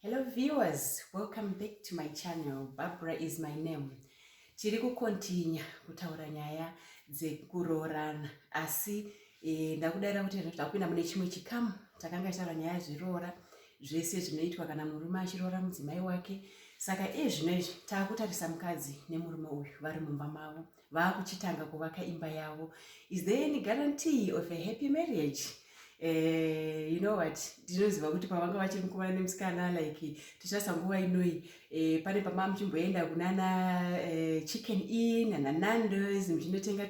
Hello viewers, welcome back to my channel. Barbara is my name. Tiri kukontinya kutaura nyaya dzekuroorana asi e, ndakudaira kuti takupinda mune chimwe chikamu takanga taura nyaya zviroora zvese zvinoitwa kana murume achiroora mudzimai wake saka iye zvino izvi taakutarisa mukadzi nemurume uyu vari mumba mavo vakuchitanga kuvaka imba yavo is there any guarantee of a happy marriage Eh, you know what ndinoziva kuti pavanga vachiri mukomana nemusikana like tichasa nguva inoi eh, pane pama muchimboenda kunana eh, chicken in nana nandos muchinotenga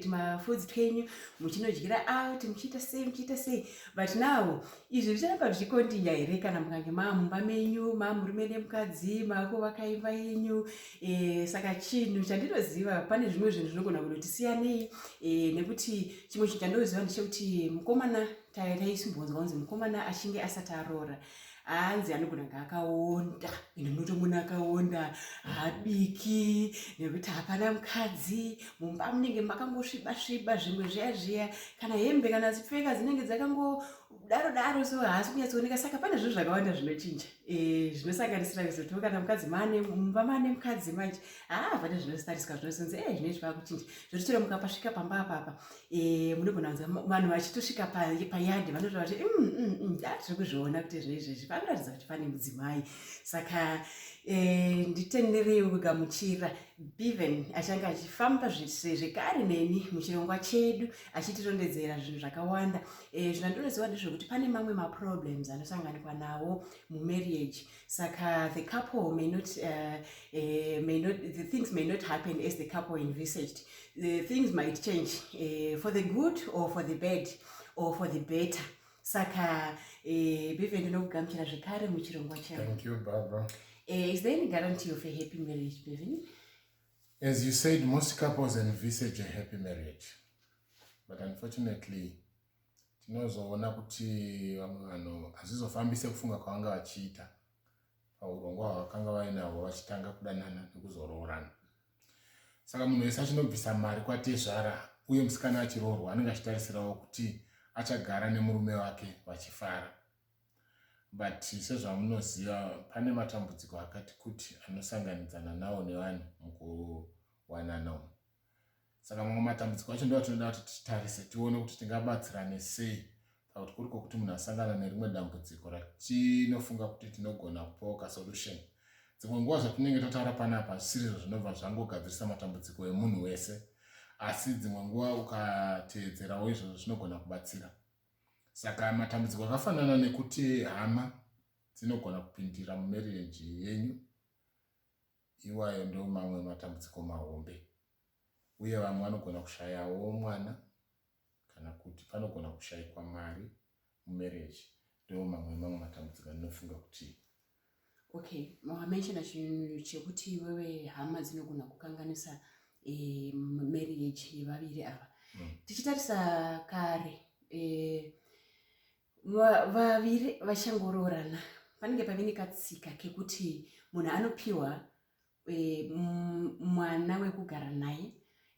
tumafoods twenyu muchinodyira out muchiita sei muchiita sei but now izvi zvicharamba zvichikondinya here kana mukange maamumba menyu maamurume nemukadzi maako vakaimba yenyu E, saka chinhu chandinoziva pane zvimwe zvinhu zvinogona kunoti siyanei e, eh, nekuti chimwe chinhu chandinoziva ndechekuti mukomana taisimbonzwa kunzi mukomana achinge asati aroora hanzi anogona kunge akaonda ende unotomona akaonda habiki nekuti hapana mukadzi mumba munenge makangosviba sviba zvimwe zviya zviya kana hembe kana dzipfeka dzinenge dzakango daro daro so haasi kunyatsooneka saka pane zvinhu zvakawanda zvinochinja eh, zvinosanganisira kuzotiwo kana mukadzi mane mumba mane mukadzi manje haa ah, pane zvinostariswa zvinozonzi e eh, zvine zvava kuchinja zvotitora mukapasvika pamba apapa eh, munogona kunza vanhu vachitosvika payadi vanotova kuti mm, mm, mm, ah, tiri kuzviona kuti zvinhu izvezvi panoratidza kuti pane mudzimai saka nditendereiwo kugamuchira beven achange achifamba zvekare neni muchirongwa chedu achitirondedzera zvinhu zvakawanda Eh, zvandinoziva ndezvekuti pane mamwe maproblems anosanganikwa nawo mumarriage saka the couple may not, uh, uh, may not the things may not happen as the couple envisaged the things might change uh, for the good or for the bad or for the better saka uh, bive ndinokugamuchira zvekare muchirongwa chao uh, is there any guarantee of a happy marriage bevin As you said, most couples envisage a happy marriage. But unfortunately, tinozoona kuti vamwe vanhu hazvizofambise kufunga kwavanga vachiita paurongwa hwavakanga vainahwo vachitanga kudanana nekuzoroorana. Saka munhu wese achinobvisa mari kwatezvara uye musikana achiroorwa anenge achitarisirawo kuti achagara nemurume wake vachifara. but sezvamunoziva pane matambudziko akati kuti anosanganidzana nawo nevanhu mukuwanana umu saka mamwe matambudziko acho ndo atinoda kuti titarise tione kuti tingabatsirane sei pakuti kuri kwokuti munhu asangana nerimwe dambudziko ratinofunga kuti tinogona kupoka solution dzimwe nguva zvatinenge tataura panapa zvisirizvo zvinobva zvangogadzirisa matambudziko emunhu wese asi dzimwe nguva ukateedzerawo izvozvo zvinogona kubatsira saka matambudziko akafanana nekuti hama dzinogona kupindira mumereji yenyu iwayo ndo mamwe matambudziko mahombe uye vamwe vanogona kushayawo mwana kana kuti panogona kushayikwa mari mumereji ndo mamwe mamwe matambudziko anofunga kuti Okay, wamenshona chinhu chekuti iwewe hama dzinogona kukanganisa eh, marriage yevaviri ava mm. tichitarisa kare eh, vaviri vachangoroorana panenge pave nekatsika kekuti munhu anopiwa e, mwana wekugara naye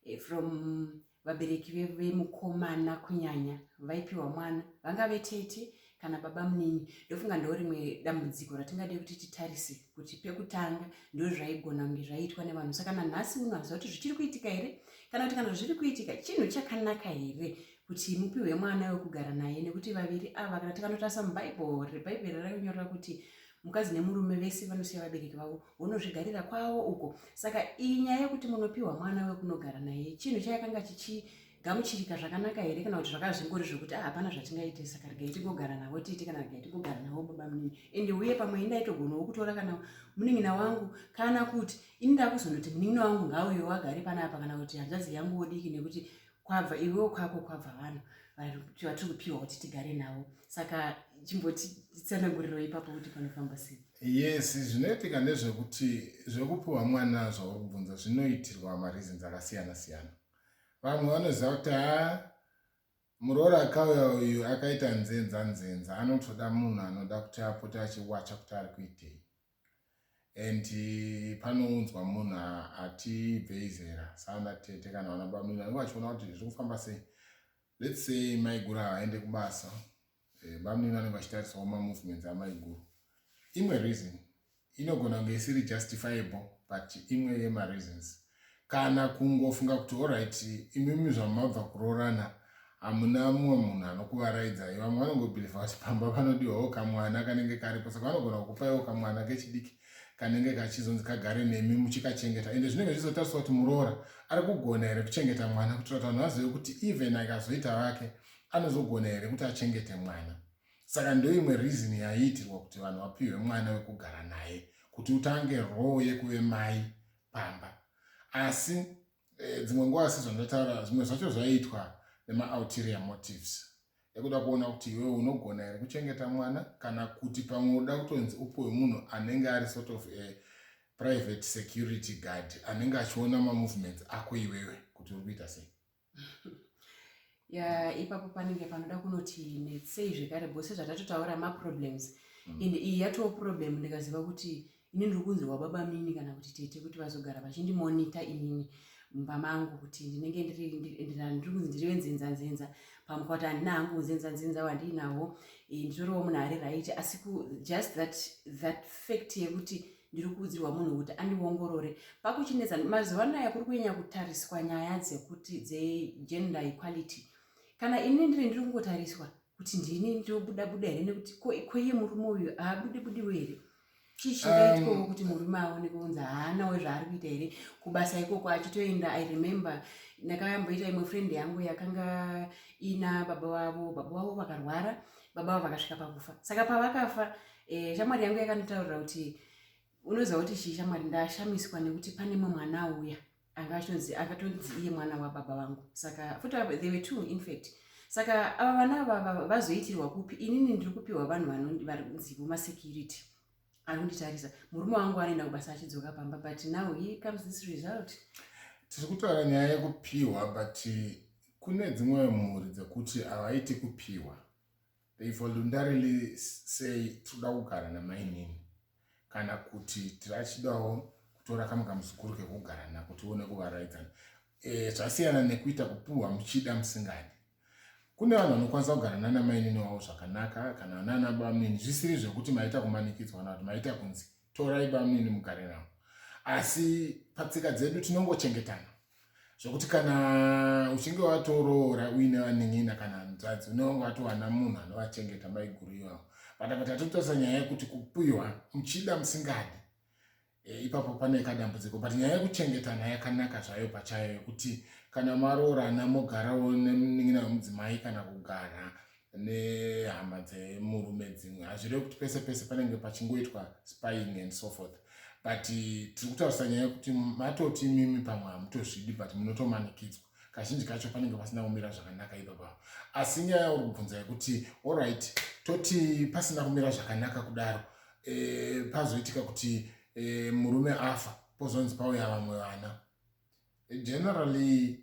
e, from vabereki vemukomana kunyanya vaipiwa mwana vangave tete kana baba munini ndofunga ndo rimwe dambudziko ratingade kuti titarise kuti pekutanga ndo zvaigona kunge zvaiitwa nevanhu saka nanhasi uno haziva kuti zvichiri kuitika here kana kuti kana zviri kuitika chinhu chakanaka here kuti mupiwe mwana wekugara naye nekuti vaviri ava kana tikanotarisa mubible rebhaibheri rainyorera kuti mukadzi nemurume vese vanosiya vabereki vavo vonozvigarira kwavo uko saka iyi nyaya yekuti munopiwa mwana wekunogara naye chinhu chayakanga chichigamuchirika zvakanaka here kana kuti zvakazvingori zvokuti ah, hapana zvatingaite saka regai tigogara navo titi kana regai tigogara navo baba munini ende uye pamwe ini ndaitogonawo kutora kana munin'ina wangu kana kuti ini ndakuzondoti munin'ina wangu ngauyo wagare panapa kana kuti hanzvadzi yangu wodiki nekuti kwabva iwewo kwako kwabva vanhu vatiri kupiwa kuti tigare navo saka chimbotitsananguriro ipapo kuti panofamba sei yes zvinoitika ndezvekuti zvekupiwa mwana zvauri kubvunza zvinoitirwa mareasons akasiyana siyana vamwe vanoziva kuti ha muroora akauya uyu akaita nzenza nzenza anotoda munhu anoda kuti apote achiwacha kuti ari kuitei and panounzwa munhu ati bvei zera saana tete kana vana bamina vanenge vachiona kuti zviri kufamba sei let's say maiguru haaende kubasa eh, bamina vanenge vachitarisawo mamovements amaiguru imwe reason inogona kunge isiri justifiable but imwe yemareasons kana kungofunga kuti horit imimi zvamabva kuroorana hamuna mumwe munhu anokuvaraidzai vamwe vanongobhilivha kuti pamba panodiwawo kamwana kanenge karipo saka vanogona kukupaiwo kamwana kechidiki kanenge kachizonzi kagare nemi muchikachengeta ende zvinenge zvizotariswa kuti muroora ari kugona here kuchengeta mwana kuitira kuti vanhu vazive kuti even akazoita vake anozogona here kuti achengete mwana saka ndoimwe reason yaiitirwa kuti vanhu vapiwe mwana wekugara naye kuti utange roo yekuve mai pamba asi eh, dzimwe nguva asi zvandotaura zvimwe zvacho zvaiitwa nemaalterior motives ekuda kuona kuti iwe unogona here kuchengeta mwana kana kuti pamwe unoda kutonzi upiwe munhu anenge ari sort of a private security guard anenge achiona mamovements ako iwewe kuti uri kuita sei ya ipapo panenge panoda kunoti netsei zvekare bho sezvatatotaura maproblems mm. and iyi yatoo problem ndikaziva kuti ini ndiri kunzirwa baba mini kana kuti tete kuti vazogara vachindimonita inini mumba mangu kuti ndinenge ndiri kunzi ndirive nzenzanzenza pamwe kwati handina hangu unzenzanzenza wandiinavo eh, nditoriwo munhu ari right asi just that, that fact yekuti ndiri kuudzirwa munhu kuti andiongorore pakuchinetsa mazuva anaya kuri kunyanya kutariswa nyaya dzekuti dzegender equality kana ini ndiri ndiri kungotariswa kuti ndini ndinobuda buda here nekuti koiye murume uyu haabude budiwo here chii chingaitwawo um, kuti murume aone kunzi haanawo zvaari kuita here kubasa ikoko achitoenda i remember ndakayamboita imwe friend yangu yakanga ina baba vavo baba vavo vakarwara baba vavo vakasvika pakufa saka pavakafa e, shamwari yangu yakandotaurira kuti unoziva kuti chii shamwari ndashamiswa nekuti pane mwe mwana auya anga achitonzi akatonzi iye mwana wababa vangu saka futi they were two infact saka ava vana vava vazoitirwa kupi inini ndiri kupiwa vanhu vanonzivo masecurity ari kunditarisa murume wangu anoenda kubasa achidzoka pamba but now he comes this result tiri kutaura nyaya yekupiwa but kune dzimwe mhuri dzekuti havaiti kupiwa they voluntarily say tinoda kugara namainini kana kuti tirachidawo kutora kamwe kamuzukuru kekugara nako tione kuvaraidzana e, zvasiyana nekuita kupuhwa muchida musingadi kune vanhu vanokwanisa kugara nana mainini wavo zvakanaka kana nana bamnini zvisiri zvekuti maita kumanikidzwa kana kuti maita kunzi torai bamnini mugare navo asi patsika dzedu tinongochengetana zvekuti kana uchinge watoroora uine vanin'ina kana hanzvadzi unenge watowana munhu anovachengeta maiguru ivavo but apa tatotarisa nyaya yekuti kupiwa muchida musingadi e, ipapo pane kadambudziko but nyaya yekuchengetana yakanaka zvayo pachayo yekuti kana maroorana mogarawo nemunin'ina wemudzimai kana kugara nehama dzemurume dzimwe hazvireve kuti pese pese panenge pachingoitwa spying and so forth but tiri kutaurisa nyaya yekuti matoti mimi pamwe hamutozvidi but munotomanikidzwa kazhinji kacho panenge pasina kumira zvakanaka ipapavo asi nyaya uri kubvunza yekuti allright toti pasina kumira zvakanaka kudaro e, pazoitika kuti e, murume afa pozonzi pauya vamwe vana generally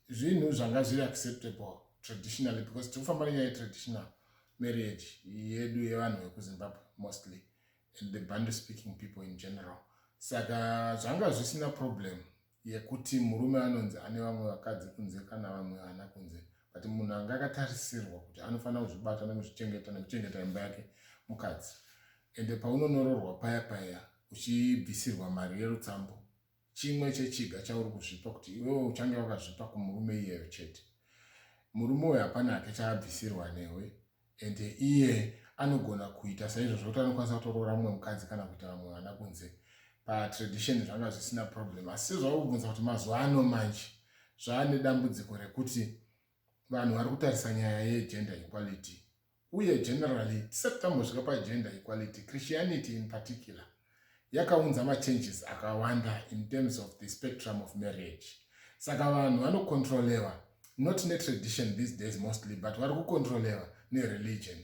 zvinhu zvanga zviri acceptable traditionally because tiri kufamba nenyaya yetraditional marriage yedu yevanhu vekuzimbabwe mostly and the bande speaking people in general saka zvanga zvisina problem yekuti murume anonzi ane vamwe vakadzi kunze kana vamwe vana kunze but munhu anga akatarisirwa kuti anofanira kuzvibata nekuzvichengeta nekuchengeta imba yake mukadzi ende paunonororwa paya paya uchibvisirwa mari yerutsambo chimwe chechiga chauri kuzvipa kuti iwewe uchange wakazvipa kumurume iyeyo chete murume uyo hapana hake chaabvisirwa newe and iye anogona kuita saizvozvo kuti anokwanisa kutoroora mumwe mukadzi kana kuita vamwe vana kunze patradition zvanga zvisina problem asi zvauri kubvunza kuti mazuva ano manje zvaane dambudziko rekuti vanhu vari kutarisa nyaya yegender equality uye generally tisati tambosvika pagender equality christianity in particular yakaunza machanges akawanda in terms of the spectrum of marriage saka vanhu vanocontrolewa not netradition these days mostly but vari kucontrolewa nereligion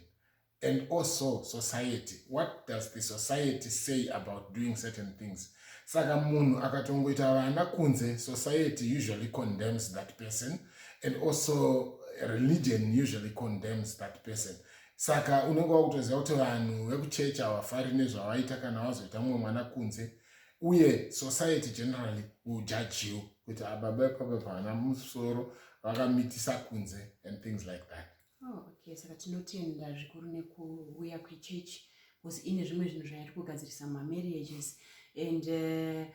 and also society what does the society say about doing certain things saka munhu akatongoita vana kunze society usually condemns that person and also religion usually condemns that person saka unenge wakutoziva kuti vanhu vekuchechi havafari nezvavaita kana vazoita mumwe mwana kunze uye society generally will judge you kuti ababa ah, ipapa pavana musoro vakamitisa kunze and things like that Oh, okay saka tinotenda zvikuru nekuuya kwechechi bcause ine zvimwe zvinhu zvayari kugadzirisa mamarriages and uh,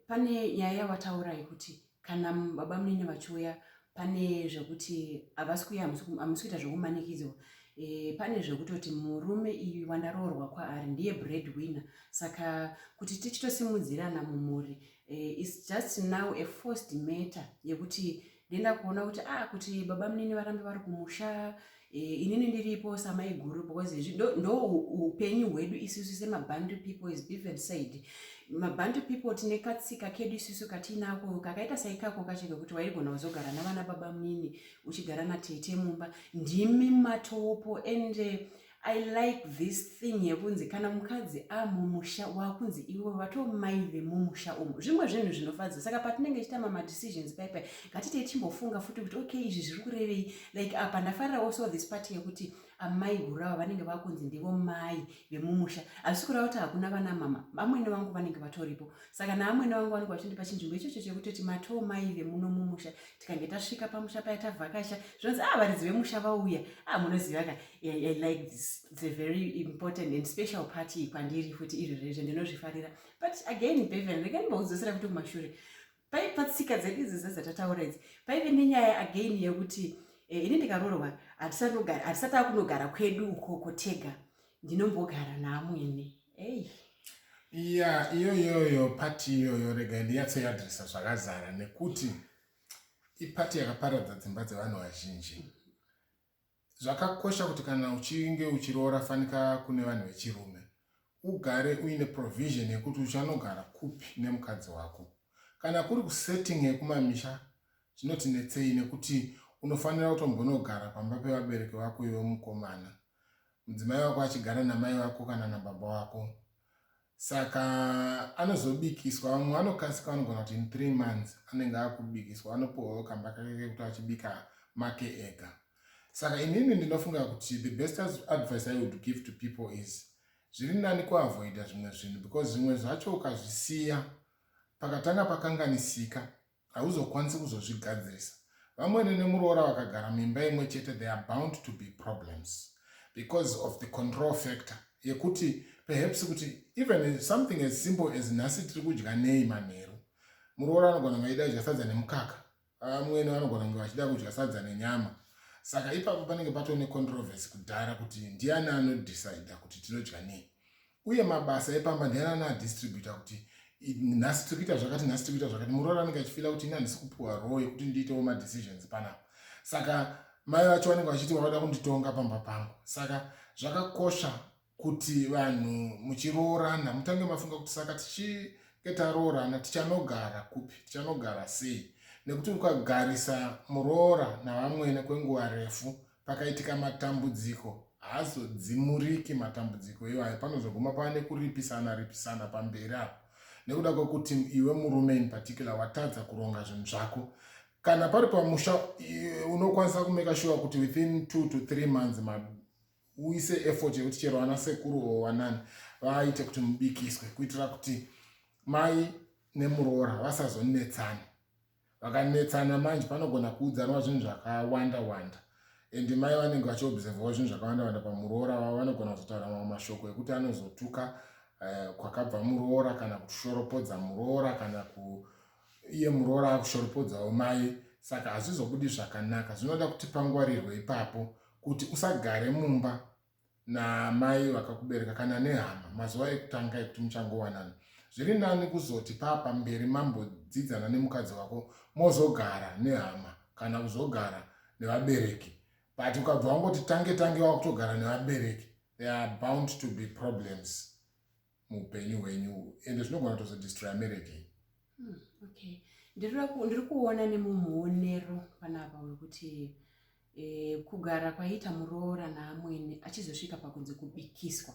pane nyaya yavataura yekuti kana baba munini vachiuya pane zvekuti havasi kuya hamusi kuita zvekumanikidzwa e, pane zvekutoti murume iyi wandaroorwa kwaari ndiye bread winner saka kuti tichitosimudzirana mumhuri e, eh, is just now a forced matter yekuti ndienda kuona kuti ah kuti baba munini varambe vari kumusha eh, inini ndiripo samai guru because ndo upenyu hwedu isusu semabantu people is bevan said mabantu people tine katsika kedu isusu katiinako kakaita saikako kacho kekuti waigona kuzogara navana baba munini uchigara natete mumba ndimi matopo ende I like this thing yekunzi kana mukadzi amumusha wakunzi iwe vato mai vemumusha umu zvimwe zvinhu zvinofadza saka patinenge tichitama madecisions paipai ngatitei timbofunga futi kuti okay izvi zviri kurevei like apa ndafarira also this part yekuti amai guru ava vanenge vakunzi ndivo mai vemumusha hazvisi kureva kuti hakuna vana mama vamwene vangu vanenge vatoripo saka naamwene vangu vanenge vachindipa chinzvimbo ichocho chekutoti matoo mai vemuno mumusha tikange tasvika pamusha paya tavhakasha zvinonzi a ah, varidzi vemusha vauya a ah, munoziva ka I, I like this it's a very important and special party pandiri futi iri rezve ndinozvifarira but again bevan rega ndimaudzosera kuti kumashure pai patsika dzedu idzi dzezatataura idzi paive nenyaya again yekuti eh, ini ndikarorwa hatisati akunogara kwedu ukoko tega ndinombogara naamwene ei ya iyoyoyo pati iyoyo rega ndiyatsoyadrisa zvakazara nekuti ipati yakaparadza dzimba dzevanhu vazhinji Zvakakosha kuti kana uchinge uchiroora fanika kune vanhu vechirume ugare uine provision yekuti uchanogara kupi nemukadzi wako. Kana kuri kusetting yekumamisha zvinotinetsei nekuti unofanira kutombonogara pamba pevabereki vako iwe mukomana, mudzimai wako achigara namai vako kana nababa wako. saka anozobikiswa vamwe vanokasika vanogona kuti in three months anenge akubikiswa anopiwawo kamba kake kekuti achibika make ega saka inini ndinofunga kuti the best advice i would give to people is zviri nani kuavoida zvimwe zvinhu because zvimwe zvacho ukazvisiya pakatanga pakanganisika hauzokwanisi kuzozvigadzirisa vamwene nemuroora vakagara mimba imwe chete they are bound to be problems because of the control factor yekuti perhaps kuti even something as simple as nhasi tiri kudya nei manheru muroora anogona kunge achida kudya sadza nemukaka vamwene vanogona kunge vachida kudya sadza nenyama saka ipapo panenge patone controversy kudhara kuti ndiani anodecida kuti tinodya nei uye mabasa epamba ndiani anaadistributa kuti nhasi tiri kuita zvakati nhasi tiri kuita zvakati muroora anenge achifila kuti ini handisi kupiwa roo yekuti ndiitewo madecisions panapa saka mai vacho vanenge vachiti vavada kunditonga pamba pangu saka zvakakosha kuti vanhu muchiroorana mutange mafunga kuti saka tichinge taroorana tichanogara kupi tichanogara sei nekuti ukagarisa muroora navamwene kwenguva refu pakaitika matambudziko haazodzimuriki matambudziko iwayo panozoguma pava nekuripisana ripisana pamberi apo nekuda kwekuti iwe murume in particular watadza kuronga zvinhu zvako kana pari pamusha unokwanisa kumeka shuwa kuti within two to three months uise effort yekuti chero vana sekuru o wanani vaite kuti mubikiswe kuitira kuti mai nemuroora vasazonetsani vakanetsana manje panogona kuudzanwa zvinhu zvakawanda wanda and mai vanenge vachiobservawo zvinhu zvakawanda wanda pamuroora vavo vanogona kuzotaura mamwe mashoko ekuti anozotuka eh, kwakabva muroora kana kushoropodza muroora kana ku iye muroora akushoropodzawo mai saka hazvizobudi zvakanaka zvinoda kuti pangwarirwe ipapo kuti usagare mumba naamai vakakubereka kana nehama mazuva ekutanga ekuti muchangowanana zviri nani kuzoti paa pamberi mambodzidzana nemukadzi wako mozogara nehama kana kuzogara nevabereki but ukabva wangoti tange tange wakutogara nevabereki they are bound to be problems muupenyu hwenyu ende zvinogona kutozodistroya marriage iyi hmm, okay ndiri kuona nemumuonero panapa wekuti eh, kugara kwaiita muroora naamwene achizosvika pakunzi kubikiswa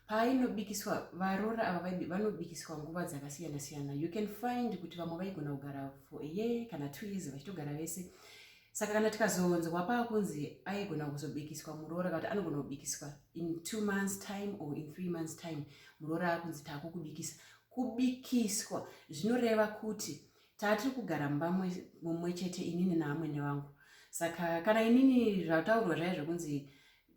paainobikiswa varoora ava vanobikiswa nguva dzakasiyana siyana you can find kuti vamwe vaigona kugara for a year kana two years vachitogara vese saka kana tikazonzwa pakunzi aigona kuzobikiswa muroora kana kuti anogona kubikiswa in two months time or in three months time muroora akunzi taakukubikisa kubikiswa zvinoreva kuti taatiri kugara mumba mumwe chete inini naamwene vangu saka kana inini zvataurwa zvaive zvekunzi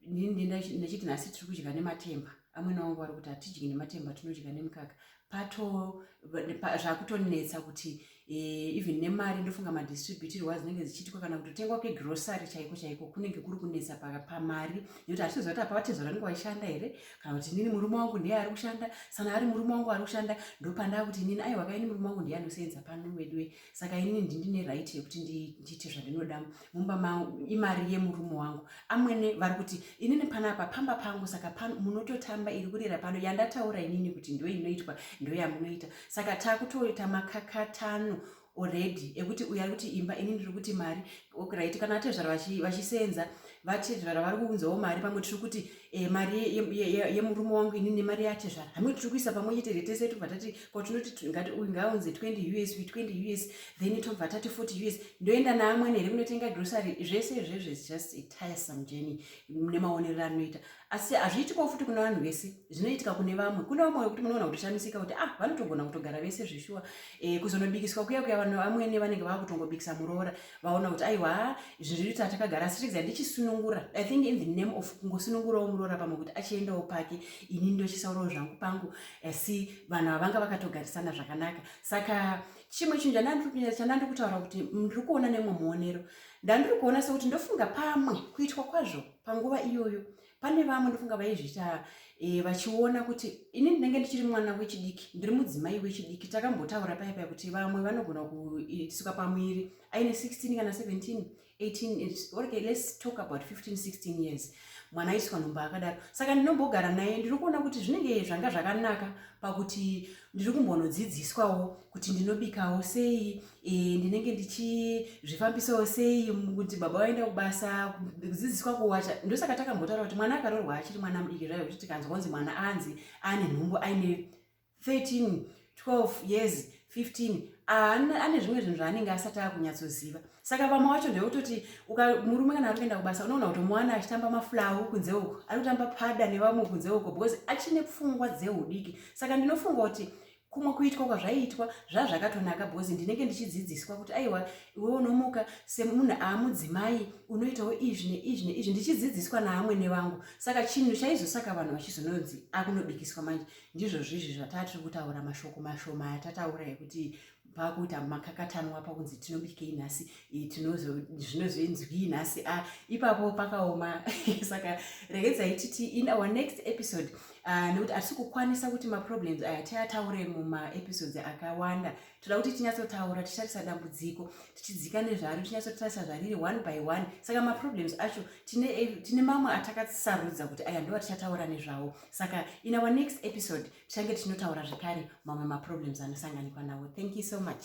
ndini ndachiti nhasi tiri kudya nematemba amwene wangu vari kuti hatidyi nematemba tinodya nemukaka pato zvakutonetsa kuti eh, even nemari ndofunga madistributirwa dzinenge dzichiitwa kana kutotengwa kwegrosary chaiko chaiko kunenge kuri kunetsa pamari nekuti hatitoziva kuti apa vatezvara nenge vaishanda here kana kuti inini murume wangu ndiye ari kushanda sana ari murume wangu ari kushanda ndopandava kuti inini aiwa kaini murume wangu ndiye anosenza pano veduwe saka ini ndine right yekuti ndiite zvandinoda mumba mangu imari yemurume wangu amwene vari kuti inini panapa pamba pangu saka pano munototamba iri kurira pano yandataura inini kuti ndo inoitwa ndo yamunoita saka takutoita makakatano already ekuti uyo ari kuti imba ini ndiri kuti mari okright kana atezvara vachisenza vatezvara vari kuunzawo mari pamwe tiri kuti e, mari yemurume wangu ini nemari yatezvara hamwe tiri kuisa pamwe chete retese tobva tati kwatinoti ngati uyu ngaaunze 20 us uyu 20 us then tobva tati 40 us ndoenda naamwene here kunotenga grocery zvese izvezvo is just a tiresome journey nemaonero anoita asi hazviitikawo futi kuna vanhu vese zvinoitika kune vamwe kune vamwe vekuti munoona kutoshamisika kuti ah vanotogona kutogara vese zveshuwa e, kuzonobikiswa kuya kuya vanhu vamwene vanenge vakutongobikisa muroora vaona kuti aiwa izvi zviri kuita takagara asi regai ndichisunungura i think in the name of kungosunungurawo muroora pamwe kuti achiendawo pake ini ndochisaurawo zvangu pangu asi vanhu avanga vakatogarisana zvakanaka saka chimwe chinhu chandandiri kutaura kuti ndiri kuona nemwe muonero ndandiri kuona sekuti ndofunga pamwe kuitwa kwazvo panguva iyoyo pane vamwe ndofunga vaizviita e, vachiona kuti ini ndinenge ndichiri mwana wechidiki ndiri mudzimai wechidiki takambotaura paya paya kuti vamwe vanogona kusuka pamwiri aine 16 kana 17 18 okay let's talk about 15 16 years mwana aiswa nhumbu akadaro saka ndinombogara naye ndiri kuona kuti zvinenge zvanga zvakanaka pakuti ndiri kumbonodzidziswawo kuti ndinobikawo sei e, ndinenge ndichizvifambisawo sei kuti baba vaenda kubasa kudzidziswa kuwacha ndosaka takambotaura kuti mwana akarorwa achiri mwana mudiki zvayo kuti tikanzwa kunzi mwana anzi ane nhumbu aine 13 12 years 15 ane zvimwe zvinhu zvaanenge asati akunyatsoziva saka vamwe wacho ndeyototi murume kana ari kuenda kubasa unoona kuti mwana achitamba mafulawu kunze uko ari kutamba pada nevamwe kunze uko because achine pfungwa dzeudiki saka ndinofunga kuti kumwe kuitwa kwazvaiitwa zvazvakatonaka because ndinenge ndichidzidziswa kuti aiwa iwe unomuka semunhu aamudzimai unoitawo izvi neizvi neizvi ndichidzidziswa naamwene vangu saka chinhu chaizosaka vanhu vachizononzi akunobikiswa manje ndizvozvo izvi zvataa tiri kutaura mashoko mashoma atataura ekuti pakuita makakatanwa pakunzi tinobikei nhasi tinozoinzwii nhasi a ah, ipapo pakaoma saka regedzai titi in our next episode ah, nekuti hatisi kukwanisa kuti maproblems aya tiataure mumaepisodes akawanda toda kuti tinyatsotaura tichitarisa dambudziko tichidzika nezvaro tinyatsotarisa zvariri one by one saka maproblems acho tine eh, mamwe atakasarudza kuti aya ndova tichataura nezvawo saka in our next episode tichange tichinotaura zvekare mamwe maproblems anosanganikwa nawo thank you so much